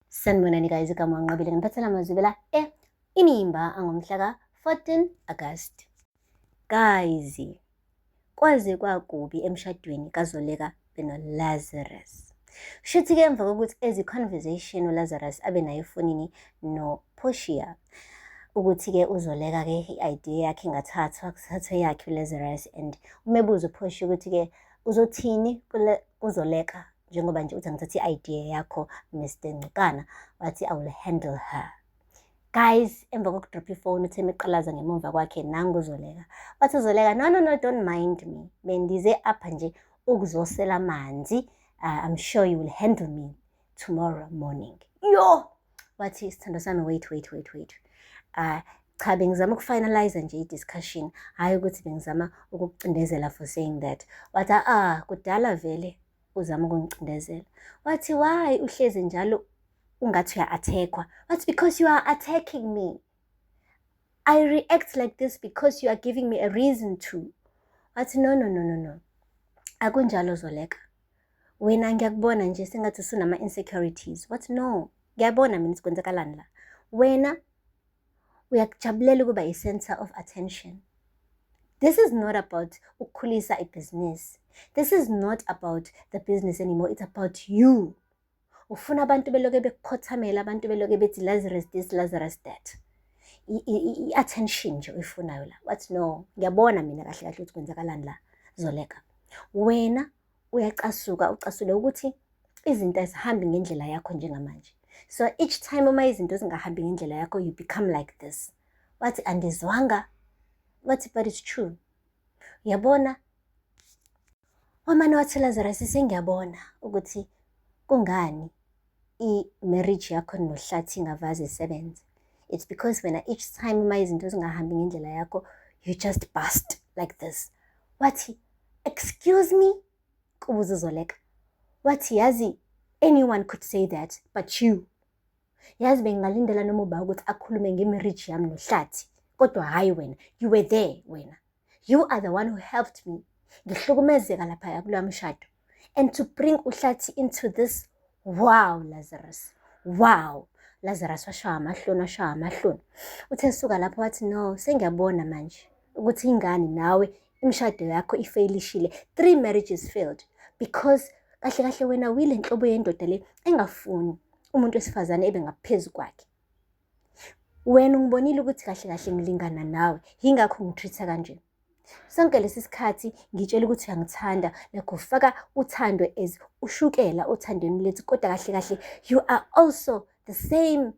Sanibonani guys, igama wanqabile ngiphathela amazwi la e inimba angomhla ka 14 August. Guys, kwaze kwakubi emshadweni kaZoleka beno Lazarus. Shuthi ke emva kokuthi ezi conversation uLazarus abe nayo efonini no Portia ukuthi ke uzoleka ke i-idea yakhe ingathathwa kuthathwe yakhe uLazarus and umebuza uPortia ukuthi ke uzothini kule uzoleka njengoba nje uthi angithatha i-idea yakho mr ncikana wathi i will handle her guys emva kokudropha ifoni uthe meqalaza ngemumva kwakhe nangu uzoleka wathi uzoleka no no no don't mind me bendize apha nje ukuzosela amanzi uh, i'm sure you will handle me tomorrow morning yo wathi isithando sami wait wait wait wait uh, cha bengizama ukufinalize nje i-discussion hhayi ukuthi bengizama ukukucindezela for saying that wathi ah kudala vele uzama ukungicindezela wathi why uhlezi njalo ungathi uya-attackwa wathi because you are attacking me i react like this because you are giving me a reason to wathi no no no no no akunjalo zoleka wena ngiyakubona nje sengathi usunama-insecurities what no ngiyabona mina sikwenzakalani la wena uyakujabulela ukuba i-center of attention this is not about ukukhulisa ibhizinisi this is not about the business anymore it's about you ufuna abantu beloke bekukhothamela abantu beloke bethi lazarus this lazarus that i-attention nje uyifunayo la wathi no ngiyabona mina kahle kahle ukuthi kwenzakalani la zoleka wena uyacasuka ucasule ukuthi izinto azihambi ngendlela yakho njengamanje so each time uma izinto zingahambi ngendlela yakho you become like this wathi andizwanga wathi but it's true yabona Wamane wathi Lazarus sengiyabona ukuthi kungani i-marriage yakho nohlathi ingavaze isebenze. It's because wena each time uma izinto zingahambi ngendlela yakho you just bust like this. Wathi, excuse me? kubuza uzoleka. Wathi yazi anyone could say that but you. Yazi bengingalindela noma uba ukuthi akhulume ngemarriage yami nohlathi kodwa hhayi wena you were there wena you are the one who helped me ngihlukumezeka laphaya kuloya mshado and to bring uhlathi into this wow lazarus wow lazarus washawa amahloni washawa amahloni uthe suka lapho wathi no sengiyabona manje ukuthi ingani nawe imishado yakho ifeyilishile three marriages failed because kahle kahle wena wile nhlobo yendoda le engafuni umuntu wesifazane ebe ngaphezu kwakhe wena ungibonile ukuthi kahle kahle ngilingana nawe yingakho ngitreat-a kanje sonke lesi sikhathi ngitshela ukuthi uyangithanda nakho faka uthando as ushukela othandweni lethu kodwa kahle kahle you are also the same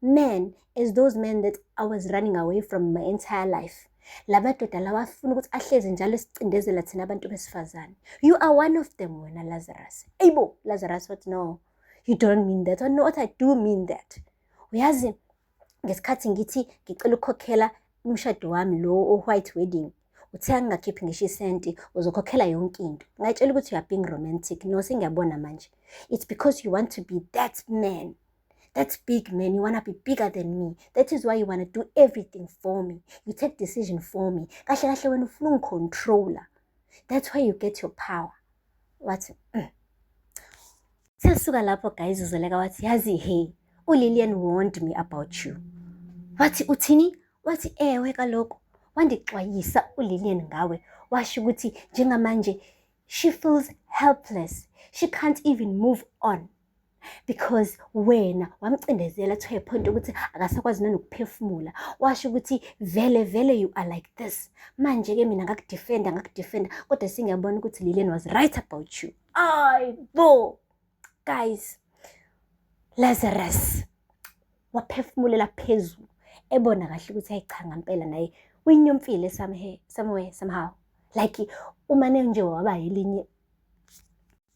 man as those men that i was running away from my entire life la madoda lawa afuna ukuthi ahlezi njalo esicindezela thina abantu besifazane you are one of them wena lazarus eyibo lazarus wathi no you don't mean that no what i do mean that uyazi ngesikhathi ngithi ngicela ukukhokhela umshado wami lo o-white wedding uthe angingakhiphi ngisho isenti uzokhokhela yonke into ngayitshela ukuthi you are being romantic no sengiyabona manje it's because you want to be that man that big man you wanna be bigger than me that is why you wanna do everything for me you take decision for me kahle kahle wena ufuna ungicontroller that's why you get your power wathi mm. sisuka lapho guys uzoleka wathi yazi he ulilian warned me about you wathi uthini wathi ewe kaloku wandixwayisa ulilian ngawe washo ukuthi njengamanje she feels helpless she can't even move on because wena wamcindezela to a point ukuthi akasakwazi nanokuphefumula washo ukuthi vele vele you are like this manje ke mina ngakudefenda ngakudefenda kodwa singiyabona ukuthi Lilian was right about you ay bo guys Lazarus waphefumulela phezulu ebona kahle ukuthi ayichanga impela naye uyinyomfile somehow somehow like umane nje waba yilinye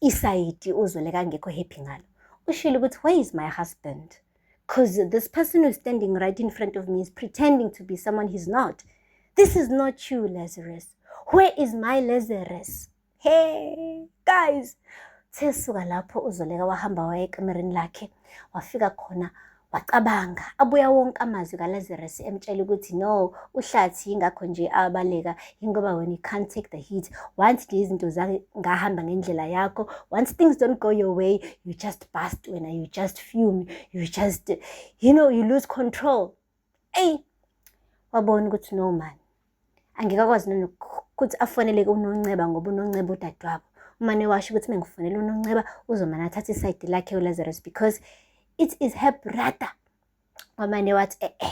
Isayidi uZweleka angekho happy ngalo. Ushilo ukuthi where is my husband? Cause this person who's standing right in front of me is pretending to be someone he's not. This is not you, Lazarus. Where is my Lazarus? Hey, guys. Sesuka lapho uZoleka wahamba waya ekamereni lakhe wafika khona Wacabanga, abuya wonke amazwi kaLazarus emtshela ukuthi no, uhlathi yingakho nje abaleka, yingoba when you can't take the heat, once nje izinto zingahamba ngendlela yakho, once things don't go your way, you just bust wena, you just fume, you just, you know, you lose control. Eyi, wabona ukuthi no man, angeke akwazi nokuthi afoneleke unonceba ngoba unonceba udadewabo umane washo ukuthi mengifonela unonceba uzomane athathe isayidi lakhe ulazarus because it is her brother wamane wathi e-e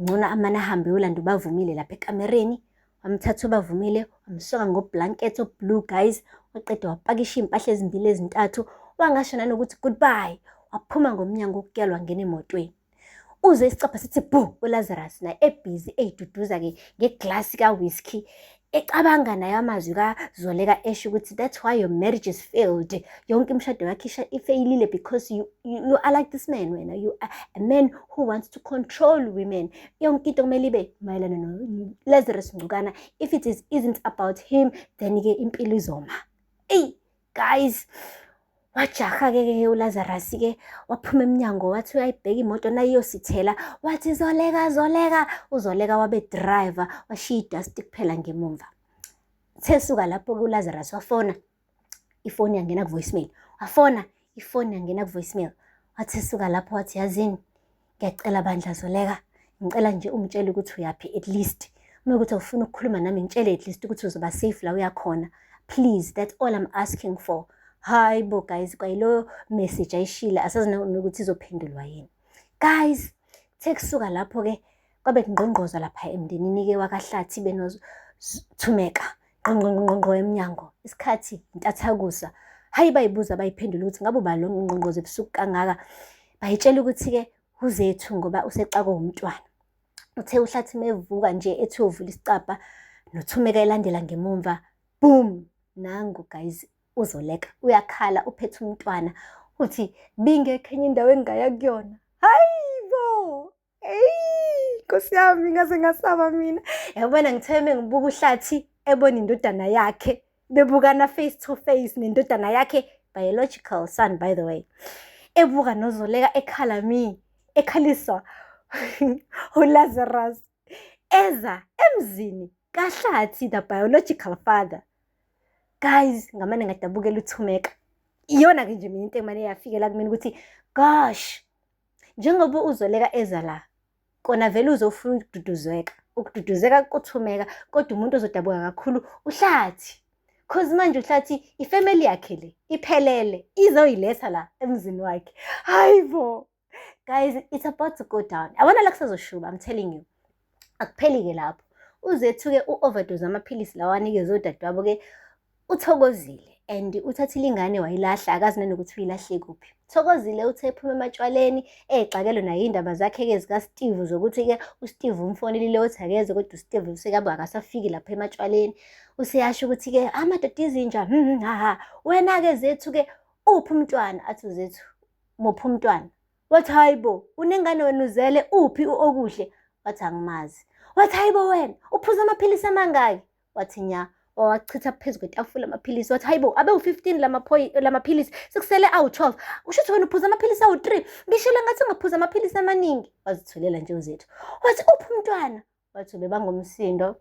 ngcono amane ahambe yolanda ubavumile lapha ekamereni wamthatha ubavumile wamsoka ngoblanket oblue guys waqeda wapakisha iy'mpahla ezimbili ezintathu wangasho nanokuthi goodbye waphuma ngomnyango ukutyalwa ngena emotweni Uzwe isicabha sithi bhu uLazarus naye ebhizi eyiduduza ke ngeglass ka whisky ecabanga nayo amazwi kazoleka esho ukuthi that's why your marriage is failed yonke imishado yakhe ifeyilile because you, you, you are like this man wena you are a man who wants to control women yonke into kumele ibe mayelana no-lazarus ngcukana if it is isn't about him then-ke impilo izoma eyi guys wajaha-ke ke ulazarasi-ke waphuma emnyango wathi uyayibheka imoto nayiyosithela wathi zoleka zoleka uzoleka wabe driver washiya idasti kuphela ngemumva sesuka lapho-ke ulazarasi wafona ifoni yangena kuvoicemail wafona ifoni yangena kuvoicemail wathi sesuka lapho wathi yazini ngiyacela bandla zoleka ngicela nje ungitshele ukuthi uyaphi at least uma ukuthi awufuna ukukhuluma nami ngitshele at least ukuthi uzoba safe la uyakhona please that's all i'm asking for hayi bo guys kwayiloyo message ayishile asazi nokuthi izophendulwa yini guys sekusuka lapho-ke Kwabe kungqongqoza lapha emndenini-ke wakaHlathi benothumeka ngqongqongqongqo emnyango isikhathi intathakusa hhayi bayibuza bayiphendula ukuthi ngabe uba lo ngqongqoza ebusuku kangaka bayitshela ukuthi-ke uzethu ngoba usexakwe wumntwana uthe uhlathi mevuka nje ethi uyovula isicabha nothumeka elandela ngemumva boom nangu guys uzoleka uyakhala uphethe umntwana uthi bingekho enye indawo engingaya kuyona hhayi Eyi, Nkosi yami ngaze ngasaba mina. Yabona ngitheme ngibuka uhlathi ebona indodana yakhe bebukana face to face nendodana yakhe biological son by the way. Ebuka nozoleka ekhala mi ekhaliswa uLazarus eza emzini kahlathi the biological father. Guys ngamane ngadabukela uthumeka. Iyona ke nje mina into emane yafikela kumina ukuthi gosh njengoba uzoleka eza la kona vele uzofuna ukududuzeka ukududuzeka kuthumeka kodwa umuntu ozodabuka kakhulu uhlathi cause manje uhlathi ifamily yakhe le iphelele izoyiletha la emzini wakhe hayi bo guys it's about to go down abona la kusazoshuba i'm telling you Akupheli-ke lapho, uzethuke u-overdose amaphilisi lawa anikezwe udadewabo-ke uthokozile and uthathile ingane wayilahla akazi nanokuthi uyilahle kuphi thokozile uthe ephuma ematshwaleni exakelo naye iy'ndaba zakhe-ke zikasteve zokuthi-ke usteve umfonelile othi akeze kodwa usteve usekabe akasafiki lapha ematshwaleni useyasho ukuthi-ke amadoda izinja hmm, hmm, haha wena-ke zethu-ke uphi umntwana athi uzethu muphi umntwana wathi hayi bo unengane wena uzele uphi u-okuhle wathi angimazi wathi hayi bo wena uphuza amaphilisi amangaki wathi nya wawachitha phezu kwetafula amaphilisi wathi hayi bo abe u-fifteen lamaphilisi sekusele awu-twelve kusho ukuthi wena uphuza amaphilisi awu-three ngishilo ngathi ungaphuza amaphilisi amaningi wazithulela nje uzethu wathi uphi umntwana Wathi ubebanga umsindo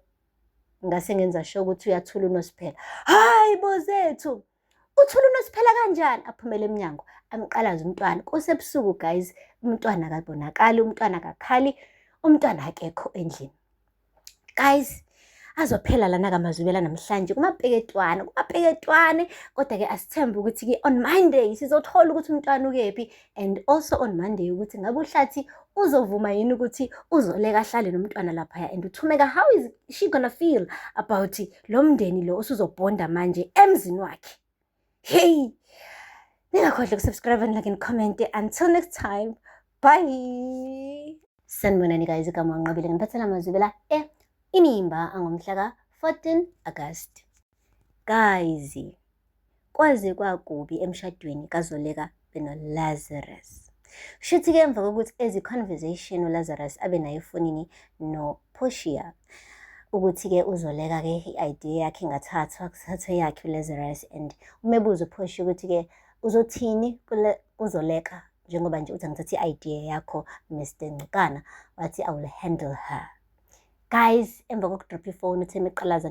ngase ngenza sho ukuthi uyathula uNosiphela. Hayi bozethu. Uthula uNosiphela kanjani? Aphumele emnyango amqalaza umntwana. Kusebusuku guys, umntwana akabonakali, umntwana akakhali, umntwana akekho endlini. Guys, azophela lana kamazubela namhlanje kumapeketwane kumapeketwane kodwa-ke asithembe ukuthi-ke on monday sizothola ukuthi umntwana ukephi and also on Monday ukuthi ngabe uhlathi uzovuma yini ukuthi uzoleka ahlale nomntwana laphaya and uthumeka how is she gonna feel about lo mndeni lo osuzobhonda manje emzini wakhe hey ningakhohlwa ukusubscribe and like and comment until next time bye sanibonani guys igama wanqobile ngiphathela amazwi bela e eh, inimba angomhla ka-14 agasti Guys, kwaze kwakubi emshadweni kaZoleka benoLazarus. Shuthi ke emva kokuthi ezi conversation uLazarus abe nayo efonini noPortia ukuthi ke uzoleka ke i-idea yakhe ingathathwa kuthathwe yakhe uLazarus and umebuza uPortia ukuthi ke uzothini kuzoleka njengoba nje uthi angithatha i-idea yakho Mr Ngcikana wathi I will handle her guys emva kokudropha ifoni uthe meqalaza